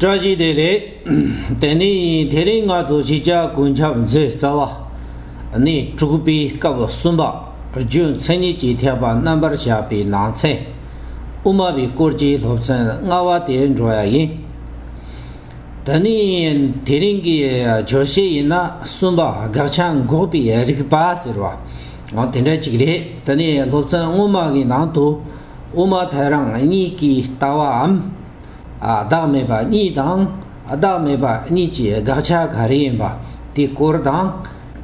བཀྲ་ཤིས་བདེ་ལེགས། དེ་ནས་དེ་རིང་ང་ཚོ་ཕྱི་རྒྱལ་གོ་འཁྱམ་མཛོད་རྩ་བ་ནས་དྲུག་པའི་སྐབས་གསུམ་པ་རྒྱུ་མཚན་ཉིད་ཀྱི་ཐེག་པ་རྣམ་པར་བཞག་པའི་ནང་ཚན་དབུ་མ་པའི་སྐོར་གྱི་སློབ་ཚན་ལྔ་བ་དེ་འགྲོ་ཡ་ཡིན། དེ་ནས་དེ་རིང་གི་བརྗོད་བྱའི་ཡིན་ན་གསུམ་པ་དགག་བྱ་འགོག་པའི་རིགས་པ་ཟེར་བ་དེ་འདྲ་ཅིག་རེད་དེ་ནས་སློབ་ཚན་སྔོན་མ་གི་ནང་དུ་དབུ་མ་ཐལ་རང་གཉིས་ཀྱི་ལྟ་བའམ། བདག་མེད་པ་གཉིས་དང། བདག་མེད་པ་གཉིས་ཀྱི་དགག་བྱ་ག་རེ་ཡིན་པ་དེའི་སྐོར་དང།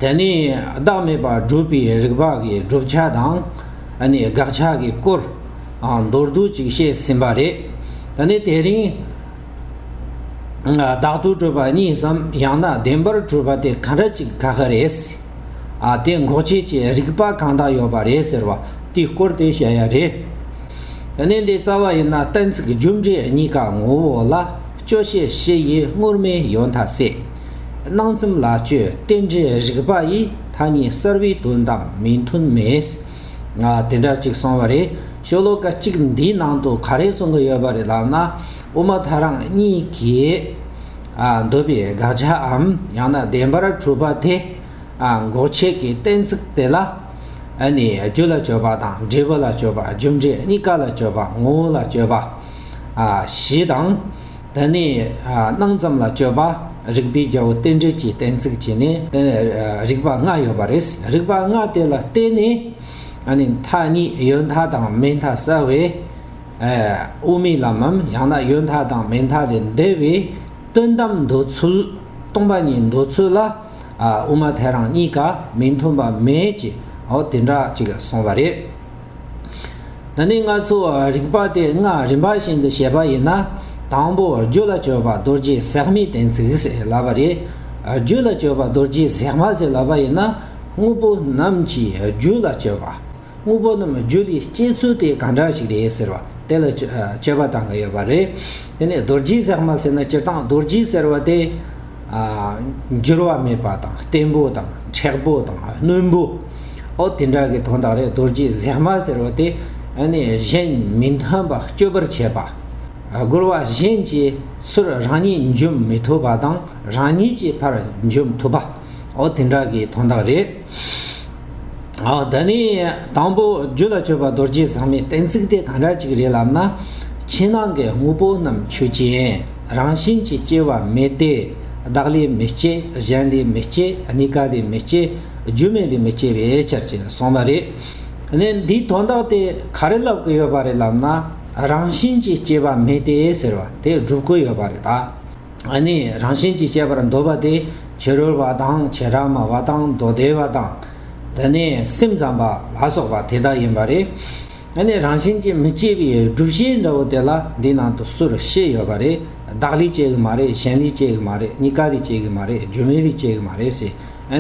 དེ་ནས་བདག་མེད་པར་སྒྲུབ་པའི་རིགས་པ་འགའི་བསྒྲུབ་བྱ་དང། དགག་བྱ་གི་སྐོར། མདོར་བསྡུས་ཅིག་བཤད་ཟིན་པ་རེད། ད་ནི་དེ་རིང། བདག་ཏུ་གྲུབ་པ་གཉིས་སམ་ཡང་ན་བདེན་པར་གྲུབ་པ་དེ་ག་འདྲ་ཅིག་དགག་གི་རེད། ཨ་དེ་འགོག་བྱེད་ཀྱི་རིག་པ་གང་དག་ཡོད་པ་རེད་ཟེར་བ་དེའི་སྐོར་དེ་བཤད་ཡ་རེད། ད་ནི་འདི་རྩ་བ་ཡིན་ན་གཏན་ཚིགས་རྒྱུ་འབྲས་གཉིས་ཀ་ངོ་བོ་ལ་དཔྱོད་བྱེད་བཞི་ཡི་སྔོར་མེད་ཡོད་མཐའ་སྲིད། སྣང་ཚུམ་ལ་དཔྱོད་རྟེན་འབྲེལ་རིག་པ་ཡིས་མཐའ་གཉིས་གསར་བའི་དོན་དང་མི་མཐུན་མེད། ཨ་དེ་འདྲ་གཅིག་སོང་བ་རེད་ཤོ་ལོ་ཀ་གཅིག་འདིའི་ནང་དུ་ག་རེ་གསུང་གི་ཡོད་པ་རེད་ལབ་ན་དབུ་མ་ཐ་རང་གཉིས་ཀྱིས། འདོད་པའི་དགག་བྱའམ་ཡང་ན་བདེན་པར་གྲུབ་པ་དེ། འགོག་བྱེད་ཀྱི་གཏན་ཚིགས་དེ་ལ། རྒྱུ་ལ་སྤྱོད་པ་དང་འབྲས་བུ་ལ་སྤྱོད་པ་རྒྱུ་འབྲས་གཉིས་ཀ་ལ་སྤྱོད་པ་ངོ་བོ་ལ་སྤྱོད་པ། བཞི་དང། དེ་ནི་སྣང་ཙམ་ལ་སྤྱོད་པ་རིགས་པའི་རྒྱལ་པོ་རྟེན་འབྲེལ་གྱི་གཏན་ཚིགས་ཀྱིས་ནི། རིགས་པ་ལྔ་ཡོད་པ་རེད། རིགས་པ་ལྔ་དེ་ལ་བརྟེན་ནས། མཐའ་གཉིས་ཡོད་མཐའ་དང་མེད་མཐའ་བསལ་བས། དབུ་མའི་ལམ་མམ་ཡང་ན་ཡོད་མཐའ་དང་མེད་མཐའ་ལས་འདས་པའི་དོན་དམ་འདོད་ཚུལ། སྟོང་པ་ཉིད་འདོད་ཚུལ་ལ། དབུ་མ་ཐལ་རང་གཉིས་ཀ་མི་མཐུན་པ་མེད་ཅེས་འོ་དེ་འདྲ་ཅིག་གསུངས་པ་རེད། ད་ནི་ང་ཚོ་རིག་པ་དེ་སྔ་རིམ་པ་བཞིན་དུ་བྱས་པ་ཡིན་ན། དང་པོ་རྒྱུད་ལ་སྤྱོད་པ་རྡོ་རྗེ་གཟེགས་མའི་གཏན་ཚིགས་ཟེར་ལབ་པ་རེད། རྒྱུད་ལ་སྤྱོད་པ་རྡོ་རྗེ་གཟེགས་མ་ཟེར་ལབ་པ་ཡིན་ན་དངོས་པོ་རྣམས་ཀྱི་རྒྱུད་ལ་སྤྱོད་པ། དངོས་པོ་རྣམས་རྒྱུ་ལས་སྐྱེས་ཚུལ་དེ་གང་འདྲ་ཞིག་རེད་ཟེར་བ་དེ་ལ་དཔྱད་པ་གཏང་གི་ཡོད་པ་རེད། དེ་ནས་རྡོ་རྗེའི་ཟེགས་མ་ཟེར་ན་སྤྱིར་བཏང་རྡོ་རྗེ་ཟེར་བ་དེ། འགྱུར་བ་མེད་པ་དང་བརྟན་པོ་དང་མཁྲེགས་པོ་དང་རྣོན་པོ། ཨོ་དེ་འདྲ་གི་དོན་དག་རེད་རྡོ་རྗེ་ཟེགས་མ་ཟེར་བ་དེ་གཞན་མི་མཐུན་པ་སྐྱོབ་པར་བྱེད་པ། རྒོལ་བ་གཞན་གྱི་ཚུར་རང་ཉིད་འཇོམས་མི་ཐུབ་པ་དང་རང་ཉིད་ཀྱི་ཕར་འཇོམས་ཐུབ་པ། ཨོ་དེ་འདྲ་གི་དོན་དག་རེད། ཨོ་ད་ནི་དང་པོ་རྒྱུད་ལ་སྤྱོད་པ་རྡོ་རྗེ་ཟག་མེད་གཏན་ཚིགས་དེ་གང་འདྲ་ཅིག་རེད་ལབ་ན། ཕྱི་ནང་གི་དངོས་པོ་རྣམས་ཆོས་ཅན། རང་བཞིན་གྱིས་སྐྱེ་བ་མེད་དེ། བདག་ལས་མི་སྐྱེ་གཞན་ལས་མི་སྐྱེ་གཉི་ག་ལས་མི་སྐྱེ་རྒྱུ་མེད་ལས་མི་སྐྱེ་བའི་ཕྱིར་ཅེས་གསུངས་པ་རེད། ནི་འདིའི་དོན་དག་དེ་ག་རེ་ལབ་དགོས་ཡོད་པ་རེད་ལབ་ན། རང་བཞིན་གྱིས་སྐྱེ་བ་མེད་དེ་ཟེར་བ་དེ་སྒྲུབ་དགོས་ཡོད་པ་རེད་ད། ནི་རང་བཞིན་གྱིས་སྐྱེས་པར་འདོད་པ་སྟེ་བྱི་རུལ་བ་དང་བྱེ་བྲག་མ་བ་དང་མདོ་སྡེ་བ་དང། དེ་ནས་སེམས་ཙམ་པ་ལ་སོགས་པ་དེ་དག་ཡིན་པ་རེད། ནི་རང་བཞིན་གྱིས་མི་སྐྱེ་བའི་བསྒྲུབ་བྱའི་འདྲ་བོ་དེ་ལ་འདི་ནང་དུ་སུ་རུ་ཤེས་ཡོད་པ་རེད་བདག་ལས་སྐྱེ་གི་མ་རེད་གཞན་ལས་སྐྱེ་གི་མ་རེད་གཉིས་ཀ་ལས་སྐྱེ་གི་མ་རེད་སྒྱུ་མའི་ལས་སྐྱེ་གི་མ་རེད་ཟེར་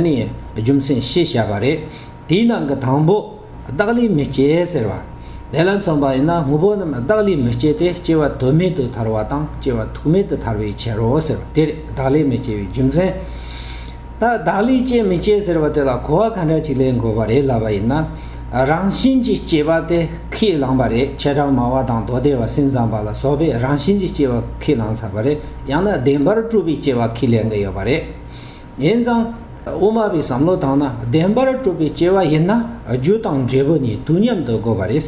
ནི་རྒྱུ་མཚན་བཤད་བྱས་པ་རེད། དེའི་ནང་གི་དང་པོ། བདག་ལས་མི་སྐྱེ་ཟེར་བ། དེ་ལ་མཚོན་པ་ཡིན་ན་དངོས་པོ་རྣམས་བདག་ལས་མི་སྐྱེ་སྟེ་སྐྱེ་བ་དོན་མེད་དུ་ཐར་བ་དང་སྐྱེ་བ་ཐུག་མེད་དུ་ཐར་བའི་ཕྱིར་རོ་ཟེར་བ་དེར་བདག་ལས་མི་སྐྱེ་བའི་རྒྱུ་མཚན། ད་བདག་ལས་སྐྱེ་མི་སྐྱེ་ཟེར་བ་དེ་ལ་གོ་བ་ག་འདྲ་ཅིག་ལེན་དགོས་པ་རེད་ལབ་པ་ཡིན་ན། རང་བཞིན་གྱིས་སྐྱེ་བ་དེ་ཁས་བླངས་པ་རེད་ཁྱེད་རང་མ་བ་དང་མདོ་སྡེ་བ་སེམས་ཙམ་པ་ལ་སོགས་པས་རང་བཞིན་གྱིས་སྐྱེ་བ་ཁས་བླངས་ཚར་བ་རེད་ཡང་ན་བདེན་པར་སྤྲུལ་པའི་སྐྱེ་བ་ཁས་ལེན་གྱི་ཡོད་པ་རེད། ཡིན་ཙང། དབུ་མ་པའི་བསམ་བློ་དང་ན་བདེན་པར་སྤྲོ་བའི་སྐྱེ་བ་ཡིན་ན་རྒྱུ་དང་འབྲས་བུ་གཉིས་དུས་མཉམ་དུ་དགོས་པ་རེད།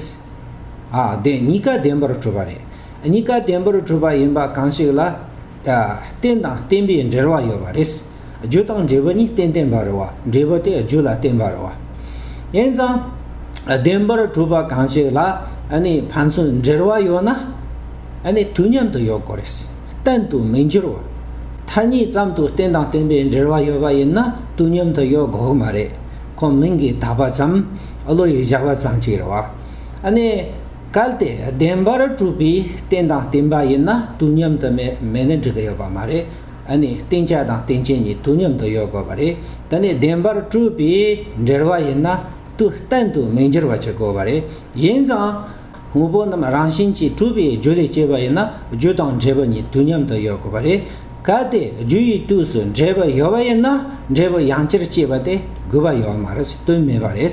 ཨ་བདེན་གཉིས་ཀ་བདེན་པར་གྲུབ་པ་རེད། གཉིས་ཀ་བདེན་པར་གྲུབ་པ་ཡིན་པ་གང་ཞིག་ལ། རྟེན་དང་བརྟེན་པའི་འབྲེལ་བ་ཡོད་པ་རེད། རྒྱུ་དང་འབྲས་བུ་གཉིས་རྟེན་བརྟེན་པར་རོ། འབྲས་བུ་དེ་རྒྱུ་ལ་བརྟེན་པར་རོ། ཡིན་ཙང། བདེན་པར་གྲུབ་པ་གང་ཞིག་ལ་ཕན་ཚུན་འབྲེལ་བ་ཡོད་ན། དུས་མཉམ་དུ་ཡོད་དགོས་རེད། གཏན་དུ་མི་འགྱུར་བ། མཐར་གཉིས་ཙམ་དུ་རྟེན་དང་བརྟེན་པའི་འབྲེལ་བ་ཡོད་པ་ཡིན་ན་དུས་མཉམ་དུ་ཡོད་དགོས་ཀྱི་མ་རེད། ཁོང་མིང་གིས་གདགས་པ་ཙམ། བློ་ཡིས་བཞག་པ་ཙམ་གྱིས་རེད་བ། ཨ་ནི། གལ་ཏེ་བདེན་པར་གྲུབ་པའི་རྟེན་དང་བརྟེན་པ་ཡིན་ན་དུས་མཉམ་དུ་མེད་ན་འགྲིག་གི་ཡོད་པ་མ་རེད། ཨ་ནི་བརྟེན་བྱ་དང་རྟེན་བྱེད་གཉིས་དུས་མཉམ་དུ་ཡོད་དགོས་པ་རེད། དེ་ནི་བདེན་པར་གྲུབ་པའི་འབྲེལ་བ་ཡིན་ན་དུས་གཏན་དུ་མི་འགྱུར་བ་བྱེད་དགོས་པ་རེད། ཡིན་ཙང། དངོས་པོ་རྣམས་རང་བཞིན་གྱིས་གྲུབ་པའི་རྒྱུ་ལས་སྐྱེས་པ་ཡིན་ན་རྒྱུ་དང་འབྲས་བུ་གཉིས་དུས་མཉམ་དུ་ཡོད་དགོས་པ་རེད། གལ་ཏེ་རྒྱུ་ཡི་དུས་སུ་འབྲས་བུ་ཡོད་པ་ཡིན་ན་འབྲས་བུ་ཡང་ཅིར་སྐྱེས་པ་དེ་དགོས་པ་ཡོད་མ་རེད་དོན་མེད་པ་རེད།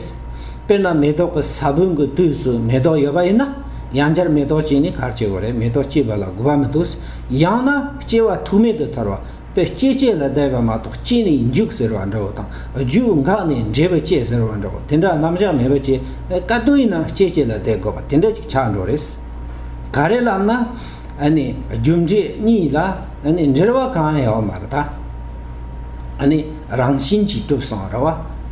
དཔེར་ན་མེ་ཏོག་གི་ས་བོན་གྱི་དུས་སུ་མེ་ཏོག་ཡོད་པ་ཡིན་ན་ཡང་ཅིར་མེ་ཏོག་སྐྱེས་ནས་གར་སྐྱེ་བོ་རེད་མེ་ཏོག་སྐྱེས་པ་ལ་དགོས་པ་མི་འདུག་ཡང་ན་སྐྱེ་བ་ཐུག་མེད་དུ་ཐར་བ། པའི་སྐྱེ་སྐྱེ་ལ་བཟླས་པ་མ་གཏོགས་སྐྱེ་ནས་འཇུག་ཟེར་བ་འདྲ་བོ་དང་རྒྱུ་འགག་ནས་འབྲས་བུ་སྐྱེ་ཟེར་བ་འདྲ་བོ་དེ་འདྲ་རྣམ་གཞག་མེད་པ་ཅི་བཀའ་བསྡུ་ཡིན་ནམ་སྐྱེ་སྐྱེ་ལ་བཟླས་དགོས་པ་དེ་འདྲ་ཅིག་ཆགས་འགྲོ་རེད། ག་རེ་ལབ་ན་ནི་རྒྱུ་འབྲས་གཉིས་ལ་ནི་འབྲེལ་བ་གང་ཡང་མ་རེད་ད། ནི་རང་བཞིན་གྱིས་གྲུབ་སོང་རེད་བ་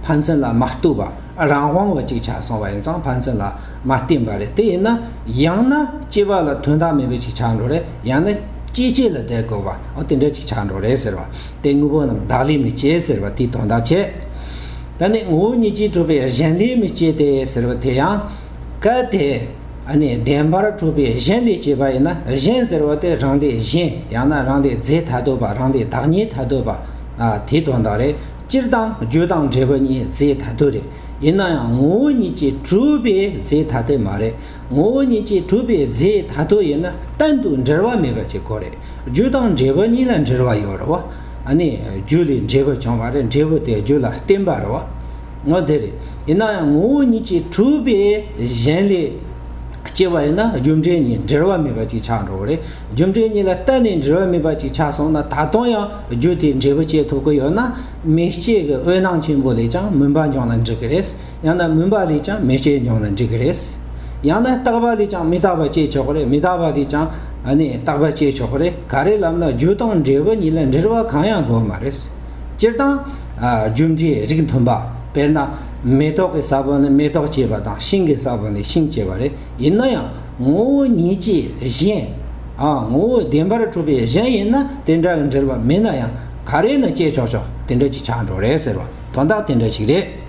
ཕན་ཚུན་ལ་མ་བསྟུ་བ། རང་དབང་བ་ཅིག་ཆགས་སོང་བ་ཡིན་ཙང་ཕན་ཚུན་ལ་མ་བརྟེན་པ་རེད་དེ་ཡིན་ན་ཡང་ན་སྐྱེས་པ་ལ་དོན་དག་མེད་པ་ཅིག་ཆགས་འགྲོ་རེད་ཡང་ན་སྐྱེས་སྐྱེས་ལ་བསྡད་དགོས་པའང་དེ་འདྲ་ཅིག་ཆགས་འགྲོ་རེད་ཟེར་བ་དེ་དངོས་པོ་རྣམས་བདག་ལས་མི་སྐྱེ་ཟེར་བ་དེའི་དོན་དག་ཆེ་ད་ནི་ངོ་བོ་ཉིད་ཀྱིས་གྲུབ་པའི་གཞན་ལས་མི་སྐྱེ་སྟེ་ཟེར་བ་དེ་ཡང་གལ་ཏེ་ནི་བདེན་པར་གྲུབ་པའི་གཞན་ལས་སྐྱེས་པ་ཡིན་ན་གཞན་ཟེར་བ་དེ་རང་ལས་གཞན་ཡང་ན་རང་ལས་རྫས་ཐ་དོད་པ་རང་ལས་བདག་ཉིད་ཐ་དོད་པ་དེའི་དོན་དག་རེད། སྤྱིར་བཏང་རྒྱུད་དང་འབྲས་བུ་གཉིས་རྫས་ཐ་དད་རེད། ཡིན་ན་ཡང་ངོ་བོ་ཉིད་ཀྱིས་གྲུབ་པའི་རྫས་ཐ་དད་མ་རེད། ངོ་བོ་ཉིད་ཀྱིས་གྲུབ་པའི་རྫས་ཐ་དད་ཡིན་ན་གཏན་དུ་འབྲེལ་བ་མེད་པ་གཅིག་གོ་རེད། རྒྱུད་དང་འབྲས་བུ་གཉིས་ལ་འབྲེལ་བ་ཡོད་རེད། ཨ་ནི་རྒྱུད་ལས་འབྲས་བུ་བྱུང་བ་རེད་འབྲས་བུ་དེ་རྒྱུད་ལ་བརྟེན་པ་རེད། ངོ་དེ་རེད། ཡིན་ན་ཡང་ངོ་བོ་ཉིད་ཀྱིས་གྲུབ་པའི་གཞན་ལས་སྐྱེ་བ་ཡིན་ན་རྒྱུ་འབྲས་གཉིས་འབྲེལ་བ་མེད་པ་གཅིག་ཆགས་འགྲོ་བ་རེད། རྒྱུ་འབྲས་གཉིས་ལ་གཏན་ནས་འབྲེལ་བ་མེད་པ་གཅིག་ཆགས་སོང་ན་ད་དུང་ཡང་རྒྱུ་དེའི་འབྲས་བུ་སྐྱེད་ཐུབ་ཀྱི་ཡོད་ན་མེ་ལྕེ་གི་འོད་སྣང་ཆེན་པོ་ལས་ཀྱང་མུན་པ་འབྱུང་ན་འགྲིག་གི་རེད། ཡང་ན་མུན་པ་ལས་ཀྱང་མེ་ལྕེ་འབྱུང་ན་འགྲིག་གི་རེད། ཡང་ན་རྟག་པ་ལས་ཀྱང་མི་རྟག་པ་སྐྱེ་ཆོག་གི་རེད་མི་རྟག་པ་ལས་ཀྱང་རྟག་པ་སྐྱེ་ཆོག་གི་རེད་ག་རེ་ལབ་ན་རྒྱུ་དང་འབྲས་བུ་གཉིས་ལ་འབྲེལ་བ་གང་ཡང་དགོས་མ་རེད། སྤྱིར་བཏང། རྒྱུ་འབྲས་རིགས་མཐུན་པ། དཔེར་ན། མེ་ཏོག་གི་ས་བོན་ལས་མེ་ཏོག་སྐྱེས་པ་དང་ཤིང་གི་ས་བོན་ལས་ཤིང་སྐྱེས་པ་རེད། ཡིན་ན་ཡང་ངོ་བོ་ཉིད་ཀྱིས་གཞན། ངོ་བོ་བདེན་པར་གྲུབ་པའི་གཞན་ཡིན་ན་དེ་འདྲ་བའི་འབྲེལ་བ་མེད་ན་ཡང་ག་རེ་ནས་བསྐྱེད་ཆོག་ཆོག་དེ་འདྲ་ཅིག་ཆགས་འགྲོ་རེད་ཟེར་བ་དོན་དག་དེ་འདྲ་ཞིག་རེད།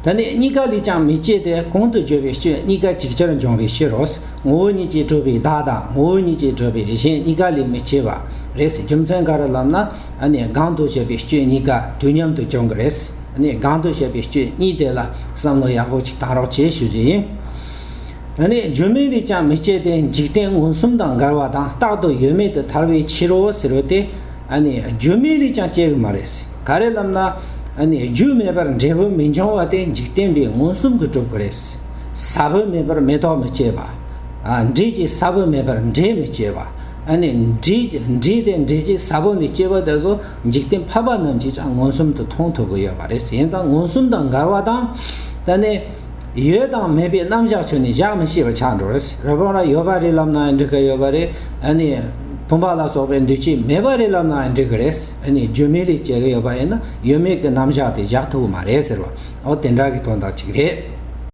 ད་ནི་གཉིས་ཀ་ལས་ཀྱང་མི་སྐྱེ་སྟེ་གོང་དུ་བརྗོད་པའི་ཆོས་གཉིས་ཀ་ཅིག་ཅར་འབྱུང་བའི་ཕྱིར་རོ། ངོ་བོ་ཉིད་ཀྱིས་གྲུབ་པའི་བདག་དང་ངོ་བོ་ཉིད་ཀྱིས་གྲུབ་པའི་གཞན་གཉིས་ཀ་ལས་མི་སྐྱེ་བ་རེད་རྒྱུ་མཚན་ག་རེ་ལབ་ན་ཨ་ནི་གང་དུ་བཤད་པའི་ཆོས་གཉིས་ཀ་དུས་མཉམ་དུ་འབྱུང་གི་རེད། ནས་སྒང་དུ་བཤད་པའི་སྐྱོན་གཉིས་དེ་ལ་བསམ་བློ་ཡག་པོ་ཞིག་གཏང་རོགས་བྱེད་ཞུ་རྒྱུ་ཡིན། ད་ནས་བརྗོད་མེད་རིགས་ཀྱང་མི་སྤྱད་དེ་འཇིག་རྟེན་མངོན་སུམ་དང་འགལ་བ་དང་རྟག་ཏུ་ཡོད་མེད་དུ་ཐར་བའི་ཕྱིར་རོ་ཟེར་བ་དེ། བརྗོད་མེད་རིགས་ཀྱང་སྤྱད་གི་མ་རེད། ག་རེ་ལབ་ན། རྒྱུ་མེད་པར་འབྲས་བུ་མི་འབྱུང་བ་དེ་འཇིག་རྟེན་པའི་མངོན་སུམ་གྱི་གྲུབ་ཀྱི་རེད། ས་བོན་མེད་པར་མེ་ཏོག་མི་སྐྱེ་བ། འབྲས་ཀྱི་ས་བོན་མེད་པར་འབྲས་མི་སྐྱེ་བ། འབྲས་དེ་འབྲས་ཀྱི་ས་བོན་ལས་སྐྱེ་བ་དེ་ཚོ། འཇིག་རྟེན་ཕལ་པ་རྣམས་ཀྱིས་ཀྱང་མངོན་སུམ་དུ་མཐོང་ཐུབ་ཀྱི་ཡོད་པ་རེད་ཡིན་ཙང་མངོན་སུམ་དང་འགལ་བ་དང། ད་ནི། ཡོད་དང་མེད་པའི་རྣམ་བཞག་ཆོས་ནི་བཞག་མི་ཤེས་པ་ཆགས་འགྲོ་རེད། རབ་བྱུང་ལ་ཡོད་པ་རེད་ལབ་ནའང་འགྲིག་གི་ཡོད་པ་རེད། ཨ་ནི། བུམ་པ་ལ་སོགས་པའི་འདུས་བྱས་མེད་པ་རེད་ལབ་ནའང་འགྲིག་གི་རེད། ཨ་ནི་བརྗོད་མེད་ལས་སྐྱེས་གི་ཡོད་པ་ཡིན་ན་ཡོད་མེད་ཀྱི་རྣམ་བཞག་དེ་བཞག་ཐུབ་ཀྱི་མ་རེད་ཟེར་བ། འོ་དེ་འདྲ་གི་དོན་དག་ཅིག་རེད།